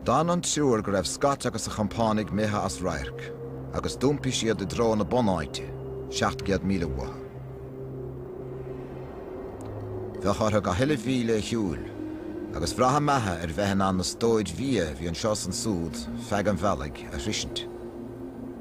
D'fhan an triúr go raibh Scott agus a chompánaigh imithe as radharc, agus d'iompaigh siad i dtreo na bunáite, seacht gcéad míle uathu. Bheadh orthu gach uile mhíle a shiúil, agus bhraith a mbeatha ar bheith in ann na stóir bhia a bhí anseo is ansúd feadh an bhealaigh a shroisint.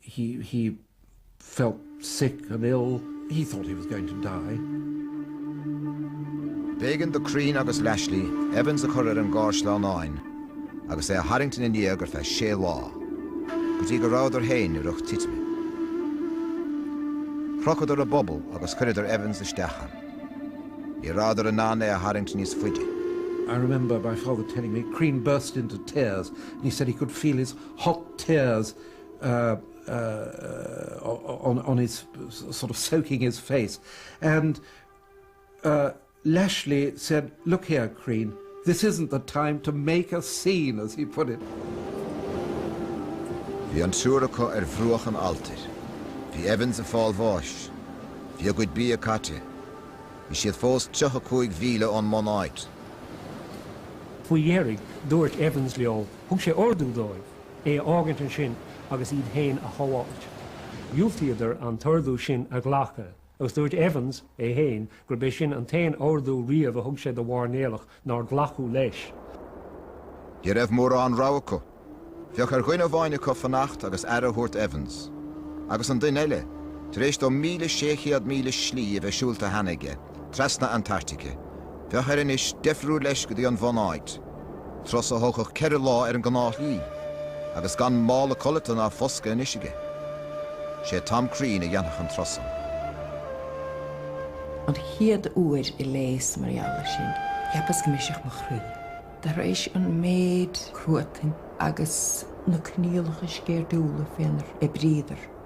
He, he, felt sick and ill, he thought he was going to die. B'éigean do Crean agus Lashly Evans a chur ar an gcarr sleamhnáin agus é a tharraingt ina ndiaidh ar feadh sé lá, go dtí go rabhadar féin i riocht titime. Chrochadar a bpuball agus chuireadar Evans isteach ann. Ní rabhadar in ann é a tharraingt níos faide. I remember my father telling me, Crean burst into tears and he said he could feel his hot tears on his sort of soaking his face and Lashly said, look here Crean, this isn't the time to make a scene as he put it. Bhí an triúr acu ar bhruach an alltair. Bhí Evans ag fáil bháis. Bhí a gcuid bia caite. Bhí siad fós tríocha cúig mhíle ón mbunáit. Faoi dheireadh, dúirt Evans leo, thug sé ordú dóibh é a fhágaint ansin agus iad féin a shábháilt. Dhiúltaíodar an t-ordú sin a ghlacadh, agus dúirt Evans, é féin, gurb é sin an t-aon ordú riamh a thug sé do mhairnéalach nár glacadh leis. Ní raibh mórán rogha acu. Bheadh ar dhuine amháin acu fanacht agus aire a thabhairt d'Evans. Agus an duine eile, tar éis dó míle sé chéad míle slí a bheith siúlta cheana aige, trasna Antartaice. Bheadh air anois deifriú leis go dtí an bhunáit, turas a thógfadh ceithre lá ar an gnáthshlí, agus gan mála codlata ná foscadh anois aige. Sé Tom Crean a dhéanfadh an turas san. An chéad uair a léas mar gheall ar sin, cheapas go mbrisfeadh mo chroí. Tar éis an méid cruatain agus na coinníollacha sceirdiúla fénar oibríodar,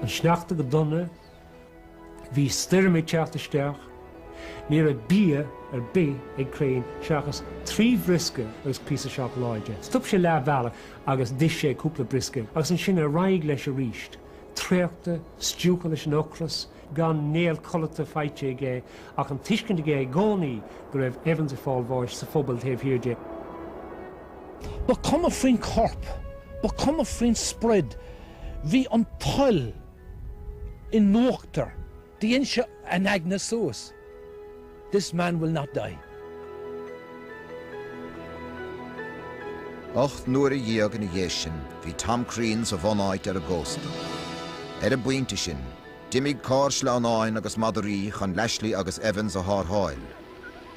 An sneachta go dona. Bhí stoirm ag teacht isteach. Ní raibh bia ar bith ag Crean seachas trí bhriosca agus píosa seacláide. Stop sé leath bealaigh agus d'ith sé cúpla briosca agus ansin ar aghaidh leis arís. Traochta, stiúgtha leis an ocras, gan néal codlata faighte aige ach an tuiscint aige i gcónaí go raibh Evans ag fáil bháis sa phuball taobh thiar de. Ba cuma faoin corp. Ba cuma faoin sprid. Bhí an toil i n-uachtar. Déanann sé a aigne suas, This man will not die. Ocht n-uaire dhéag ina dhiaidh sin bhí Tom Crean sa bhunáit ar an gcósta. Ar an bpointe sin, d'imigh carr sleamhnáin agus madraí chun Lashly agus Evans a thárrtháil.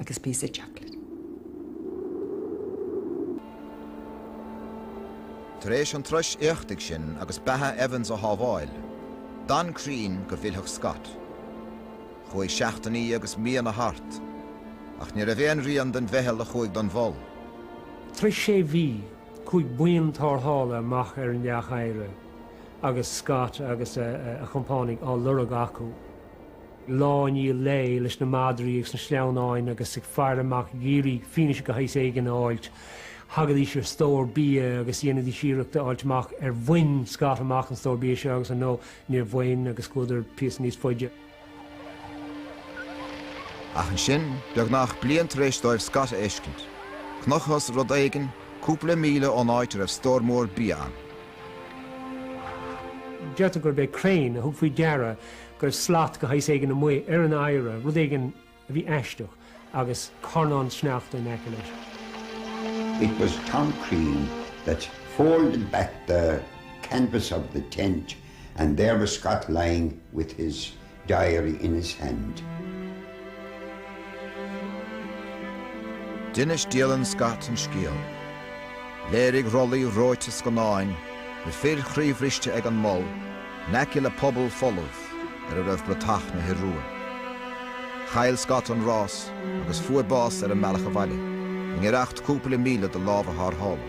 agus píosa chocolate. Tar éis an turais éachtaigh sin agus beatha Evans a shábháil, d'fhan Crean go bhfillfeadh Scott. Chuaigh seachtainí agus míonna thart, ach ní raibh aon rian den mheitheal a chuaigh don Mhol. Tar éis sé mhí, chuaigh buíon tárrthála amach ar an leac oighre agus Scott agus a chompánaigh á lorg acu. lá i ndiaidh lae, leis na madraí agus na sleamhnáin agus ag faire amach ag iarraidh fianaise de shaghas éigin a fháilt. Thagaidís ar stór bia agus dhéanaidís iarracht a fháilt amach ar bhain Scott amach an stór bia seo agus ar ndóigh níor bhain agus chuadar píosa níos faide. Ach ansin, beagnach bliain tar éis dóibh Scott a fheiscint, chonacthas rud éigin cúpla míle ón áit a raibh stór mór bia ann. Deirtear gurb é Crean a thug faoi deara go raibh slat de shaghas éigin amuigh ar an oighre, rud éigin a bhí aisteach agus carnán sneachta in aice leis. It was Tom Crean that folded back the canvas of the tent and there was Scott lying with his diary in his hand. D'inis dialann Scott an scéal. Léirigh rollaí reoite scannáin na fir chroíbhriste ag an Mol in aice le puball folamh ar a raibh bratach na hIorua. Chaill Scott an rás agus fuair bás ar an mbealach abhaile, i ngiorracht cúpla míle do lámha thárrthála.